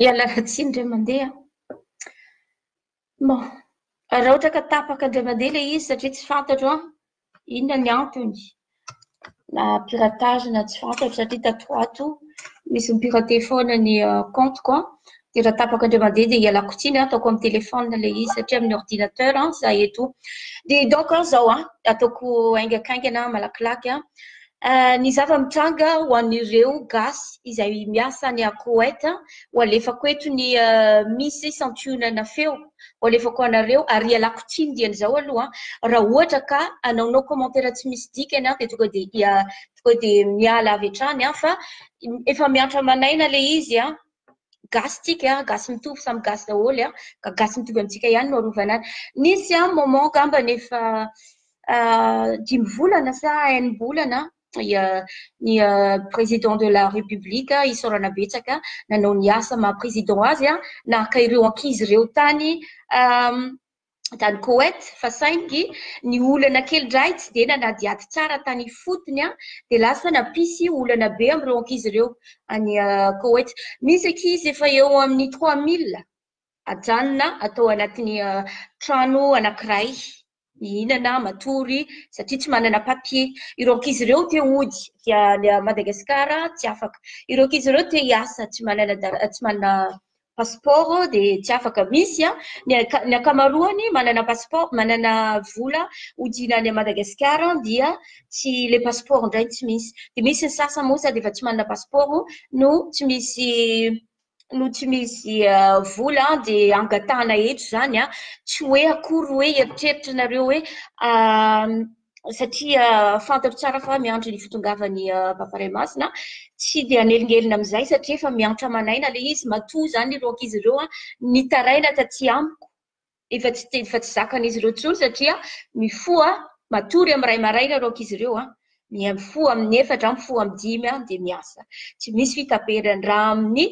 Ialahy tsiny indray mandeha bon, raha ohatra ka tapaka indray mandeha ilay izy satria tsy fantatro an, inona ny antony na piratage na tsy fantatro satria tato ho ato misy mi-pirater foana ny compte-ko an, Dia raha tapaka indray mandeha dia ialako tsiny, ataoko amin'ny téléphone ilay izy satria amin'ny ordinateur za eto. Dia donc izao an, ataoko haingakaingana malakilaky an, ny zava-mitranga ho an'ireo gasy izay miasa any Koet, ho alefako eto ny misy santionana feo ho alefako ho anareo ary ialako tsiny dian'izao aloha an, raha ohatra ka anaonao commentaire tsy misy dikany an dia tonga dia tonga dia miala avy hatrany an, fa efa miantra manaina ilay izy an. gasy tsika gasy mitovy samy gasy daholo ka gasy mitovy amintsika ihany no arovana azy nisy an moment angambany efa dimy volana sa enim-bolana ny président de la république isaorana betsaka nanao ny asa maha président azy naka ireo ankizy ireo tany tany Koweït fa saingy ny olana kely indray tsy dia nanadihady tsara tany ifotony dia lasa nampisy olana be amin'ireo ankizy ireo any Koweït. Misy ankizy efa eo amin'ny trois mille ajanona atao anatin'ny trano anankiray mihinana matory satria tsy manana papier. Ireo ankizy ireo te hody dia any Madagasikara tsy afaka. Ireo ankizy ireo te hiasa tsy manana tsy manana Passeport dia tsy afaka misy an! ny ankamaroany manana passeport, manana vola hodina any Madagasikara dia tsy ilay passeport indray no tsy misy, dia misy ny sasany moa sady efa tsy manana passeport no tsy misy no tsy misy vola an! dia angatahana eto izany an! tsy hoe akory hoe eritreritra nareo hoe satria fantatro tsara fa miandry ny fitongavan'ny Papa Ray Masina, tsy dia hanelingelina amin'izay satria efa miantra aman'aina ilay izy, matoa izany ireo ankizy ireo nitaraina taty amiko efa tsy efa tsy zakan'izy ireo intsony satria mifoha matory amin'ny iray maraina ireo ankizy ireo an, mifoha amin'ny efatra, mifoha amin'ny dimy an, dia miasa. Tsy misy fitaperany raha amin'ny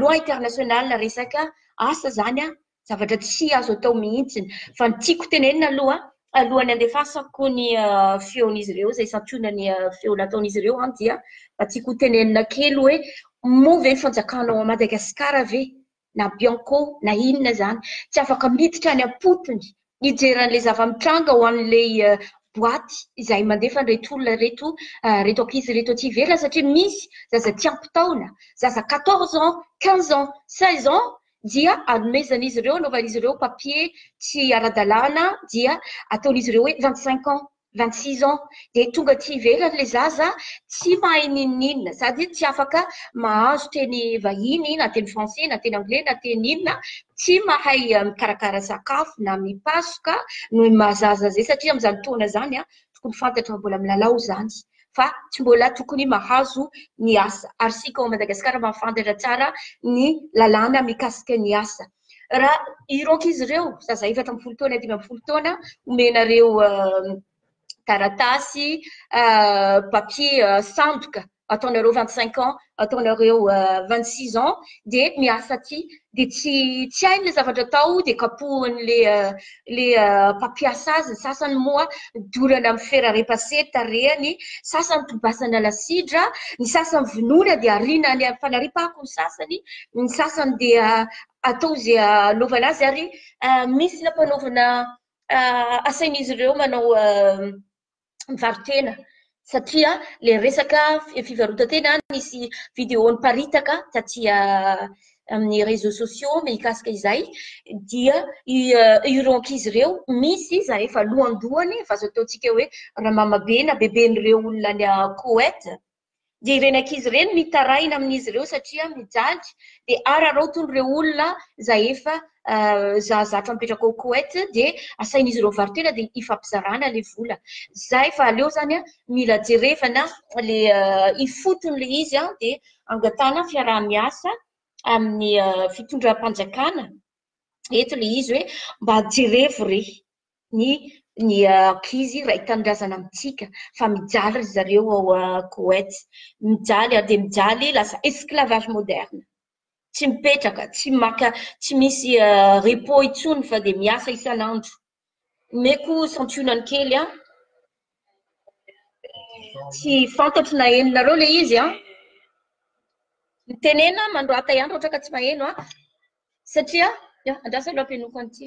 loi internationale resaka asa izany an, zavatra tsy azo atao mihitsy. Fa ny tiako tenenina aloha, alohan'ny andefasako ny feon'izy ireo izay santionany ny feo nataon'izy ireo, dia mba tiako ho tenenina kely hoe moa ve ny fanjakana ao Madagasikara ve na Bianco na inona izany tsy afaka miditra any am-potony hijery an'ilay zava-mitranga ao amin'ilay boaty izay mandefa an'ireto olona ireto, ireto ankizy ireto aty ivelany satria misy zaza tsy ampy taona, zaza quatorze ans, quinze ans, seize ans dia anomezan'izy ireo, anaovan'izy ireo papier tsy ara-dalàna dia ataon'izy ireo hoe vingt cinq ans. vingt six ans dia tonga aty ivelany le zaza tsy mahay ninoninona sady tsy afaka mahazo teny vahiny na teny français na teny anglais na teny inona tsy mahay mikarakara sakafo na mipasoka noho ny maha zaza azy satria amin'izany fotoana izany a tokony fantatra fa mbola milalao izany fa tsy mbola tokony mahazo ny asa ary isika ao Madagasikara mahafantatra tsara ny lalàna mikasika ny asa Raha ireo ankizy ireo, zaza efatra ambin'ny folo taona, dimy ambin'ny folo taona, omenareo taratasy, papier sandoka, ataonareo vingt cinq ans, ataonareo vingt six ans, dia miasa aty. Dia tsy tsy hainy ilay zavatra atao, dia kapohin'ilay. le mpampiasa azy, ny sasany moa dorana amin'ny fer à repasser ny tarehiny, sasany tobasana lasidra, ny sasany vonoina dia ariana any amin'ny fanariam-pako ny sasany, ny sasany dia atao izay hanaovana azy ary misy nampanaovina asain'izy ireo manao mivaro-tena satria le resaka fivarotan-tena nisy vidéo niparitaka taty amin'ny réseaux sociaux mikasika izay dia ireo ankizy ireo misy iza efa lohandohany efa azo ataontsika hoe ramamabena beben'ireo olona any Koweït dia ireny ankizy ireny mitaraina amin'izy ireo satria mijaly dia araraotin'ireo olona izay efa zazatra mipetraka ao Koweït dia asain'izy ireo varo-tena dia hifampizarana ilay vola. Izay fa aleo izany mila jerevana ilay ifotony ilay izy dia angatahana fiaraha-miasa amin'ny fitondram-panjakana eto ilay izy hoe mba jerevo re. ny ny ankizy iray tanindrazana amintsika fa mijaly ry zareo ao Koweït. Mijaly ary dia mijaly, lasa esclavage moderne. Tsy mipetraka, tsy maka, tsy misy repos intsony fa dia miasa isan'andro. Omeko santionany kely an! Tsy fantatro na henonareo ilay izy an! Mitenena manoratà ihany raha ohatra ka tsy maheno an! Satria, ya, andraso aloha ampenoako an'ity.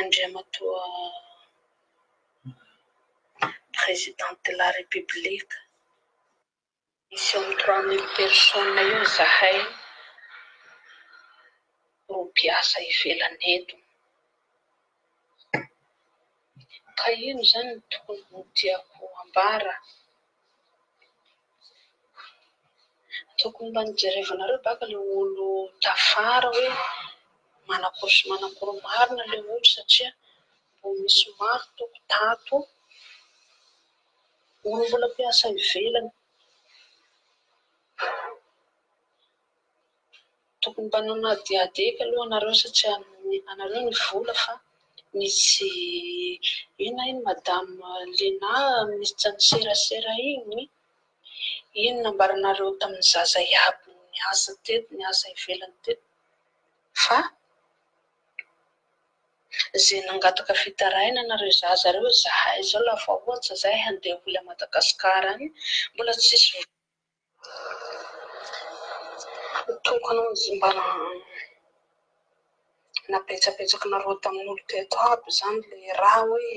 Andriamatoa Président de la République, misy eo amin'ny trois mille personnes eo izahay no mpiasa ivelany eto. Ka ino izany no tokony tiako ambara? Tokony mba nojerevanareo baka le olo tafara hoe manakory sy manakory marina le olo satria mbo misy maro tompoko tato olo mbola mpiasa ivelany Tokony mba nanadihadiaka aloha anareo sa tsy anareo ny vola fa misy inona iny madame Lena minisitra ny serasera iny iny nambaranareo tamin'ny zaza iaby niasa teto niasa ivelany teto fa izay nangataka fitarainana ireo zaza ireo izahay izao lava ohatra izahay handeha holy à Madagascar any mbola tsisy Tokony ho nizmbana nabetsabetsaka nareo tamin olo teto aby zany le ra hoe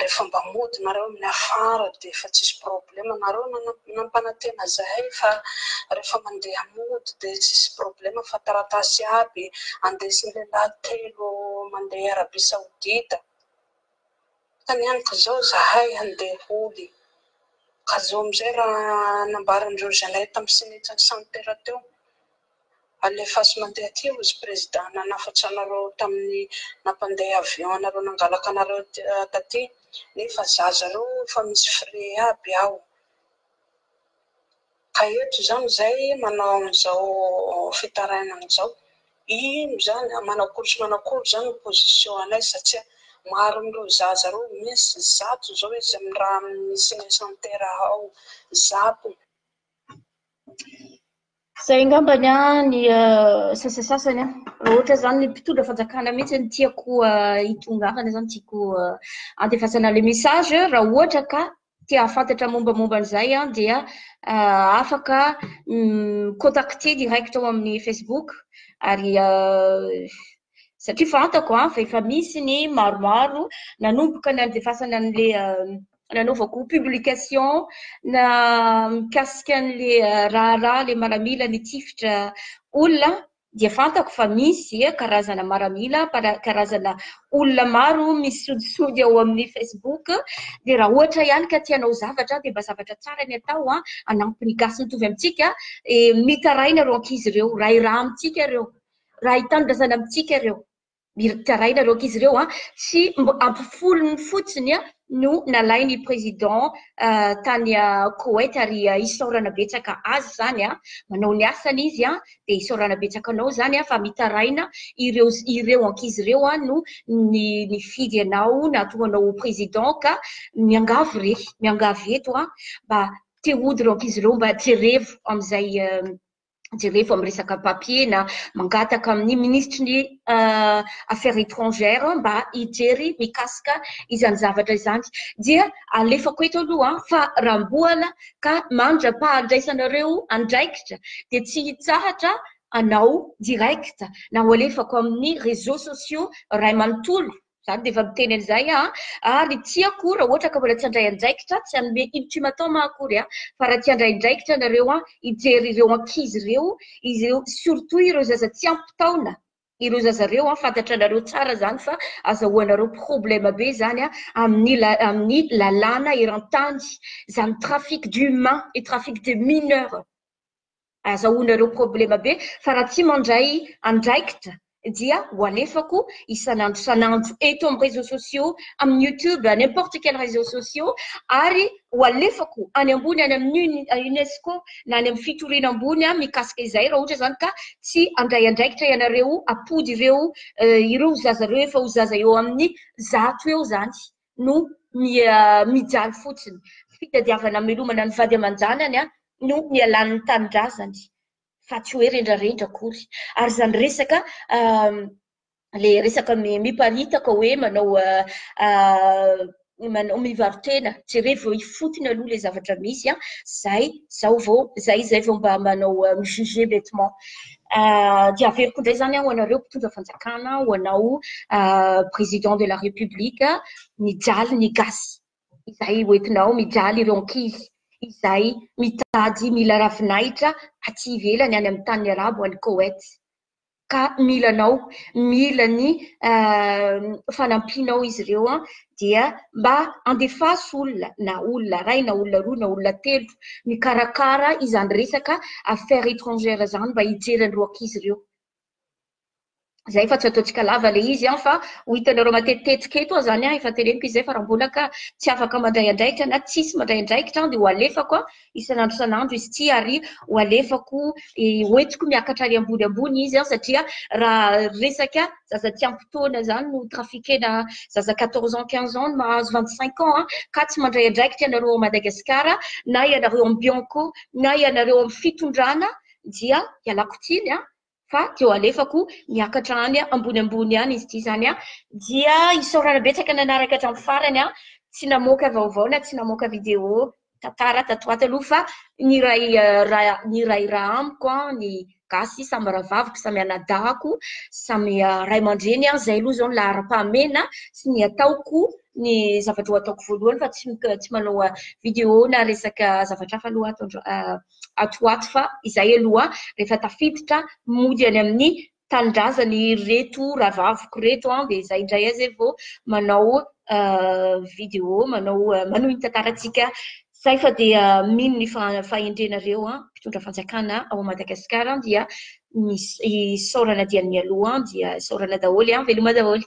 refa mba mody nareo aminy afara de efa tsisy problem nareo nampanatena zahay fa refa mande mody de tsisy problem fa taratasy aby andesin lehilahy telo mande arabie saodita Fanontanianiko izao izahay handeha holy, ka zao amin'izay raha nambaran'ireo Zalahy tamin'ny Senetsin'i Sampera teo, alefaso mandeha aty hozy Prezida nanafatsa anareo tamin'ny nampandeha avion anareo nangalaka anareo taty, nefa zaza reo efa misy frais aby ao. Ka eto izany izay manao an'izao fitarainana izao, ino izany a, manakory sy manakory izany ny position anay satsia maro amin'ireo zaza ireo misy zato izao izy amin'ny raha amin'ny cinecentere ao, zato. Izay angamba ny ahy ny sasasasany a, raha ohatra izany ny mpitondra fanjakana mihitsy no tiako hitongavana izany, tiako handefasana ilay message, raha ohatra ka te hahafantatra mombamomba an'izay an, dia ah, afaka mm, contacter direct ao amin'ny Facebook ary ah, satria fantako an, fa efa misy ny maromaro nanomboka nandefasana an'le ah, nanaovako publication na mikasika an'le ah, raharaha le maramila ny tifitra olona dia fantako fa misy karazana maramila, karazana olona maro misy sodisody ao amin'ny Facebook, dia raha ohatra ihany ka tia hanao zavatra dia mba zavatra tsara ny atao an, hanampy ny gasy mitovy amintsika, mitaraina ireo ankizy ireo, rahiraha amintsika ireo, raha hitanindrazana amintsika ireo. Miritaraina loaka izy ireo an! Tsy mba ampy folony fotsiny an no nalain'ny président tany Koweït ary isaorana betsaka azy izany an! Manao ny asany izy an! Dia isaorana betsaka anao izany an! Fa mitaraina ireo ireo ankizy ireo an no ny nifidy anao nahatonga anao ho président ka miangavy re! Miangavy eto an! Mba te hody ireo ankizy ireo mba jerevo amin'izay jereo fa miresaka papier na mangataka amin'ny minisitry ny affaires étrangères mba hijery mikasika izany zavatra izany dia alefako eto aloha fa ramboana ka mandra-pahandraisanareo andraikitra dia tsy hitsahatra anao direct na ho alefako amin'ny réseaux sociaux ray manontolo Zany dia efa miteny an'izay aho a! ary ny tiako raha ohatra ka mbola tsy handray andraikitra, tsy hanome ultimatum aho akory a! fa raha tsy handray andraikitra nareo a! hijery ireo ankizy ireo, ireo surtout ireo zaza tsy ampy taona ireo zaza ireo a! fantatra anareo tsara zany fa azahoanareo problème be zany a! amin'ny la, amin'ny lalàna eran-tany, zany trafic d'humains et trafic de mineurs. Azahoana ireo problema be fa raha tsy mandray andraikitra dia ho alefako isan'andro isan'andro eto amin'ny réseaux sociaux, amin'ny youtube, n'importe quel réseaux sociaux ary ho alefako any ambony any amin'ny UNESCO na any amin'ny fitoriana ambony mikasika izay raha ohatra izany ka tsy handray andraikitra ianareo hampody ireo ireo zaza ireo efa ho zaza eo amin'ny zato eo izany. no mijaly fotsiny. Fitadiavana hamelomana ny vady aman-janany no nialan'ny tanindrazany fa tsy hoe rendrarendra akory. Ary izany resaka ilay resaka miparitaka hoe manao manao mivaro-tena, jerevo ifotony aloha ilay zavatra misy, izay izao vao, izay izay vao mba manao mi-juger bêtement. dia averiko indray izany ho anareo mpitondra fanjakana, ho anao président de la république, mijaly ny gasy izay hoentinao, mijaly ireo ankizy izay mitady mila ravinahitra aty ivelany any amin'ny tany arabo any Koet ka mila anao, mila ny fanampianao izy ireo dia mba andefaso olona na olona iray na olona roa na olona telo mikarakara izany resaka affaires étrangères izany mba hijery an'ireo ankizy ireo. Izay fa tsy ataontsika lava ilay izy fa ho hitanareo matetitetika eto aho izany efa teneniko izy izay fa raha mbola ka tsy afaka mandray andraikitra na tsisy mandray andraikitra dia ho alefako isan'andro isan'andro izy ity ary ho alefako hoentiko miakatra ary ambony ambony izy an satria raha resaka zaza tsy ampy taona zany no trafikena zaza 14 ans 15 ans no mahazo 25 ans an ka tsy mandray andraikitra ianareo ao Madagasikara na ianareo amin'ny bianco na ianareo amin'ny fitondrana dia ialako tsiny an fa teo alefako niakatra any ambony ambony any izy ity izany an, dia isaorana betsaka nanaraka hatramin'ny farany an, tsy namoaka vaovao na tsy namoaka video tantara tato ato aloha fa niray ra- niray ra amiko an, ny gasy samy rahavaviko samy anadahako samy ray aman-dreny an, izay aloha izao ny laharam-pahamehana sy ny ataoko ny zavatra ho ataoko voalohany fa tsy tsy manao video na resaka zavatra hafa aloha ato andro ato ho ato fa izay aloha rehefa tafiditra mody any amin'ny tanindrazany ireto rahavaviko ireto an, dia izay indray aza e vao manao vidéo manao manohy ny tantarantsika zay fa dia mino ny fahendrenareo an, mpitondra fanjakana ao Madagascar an dia ny isaorana dia ny mialoha an, dia isaorana daholo an, veloma daholo.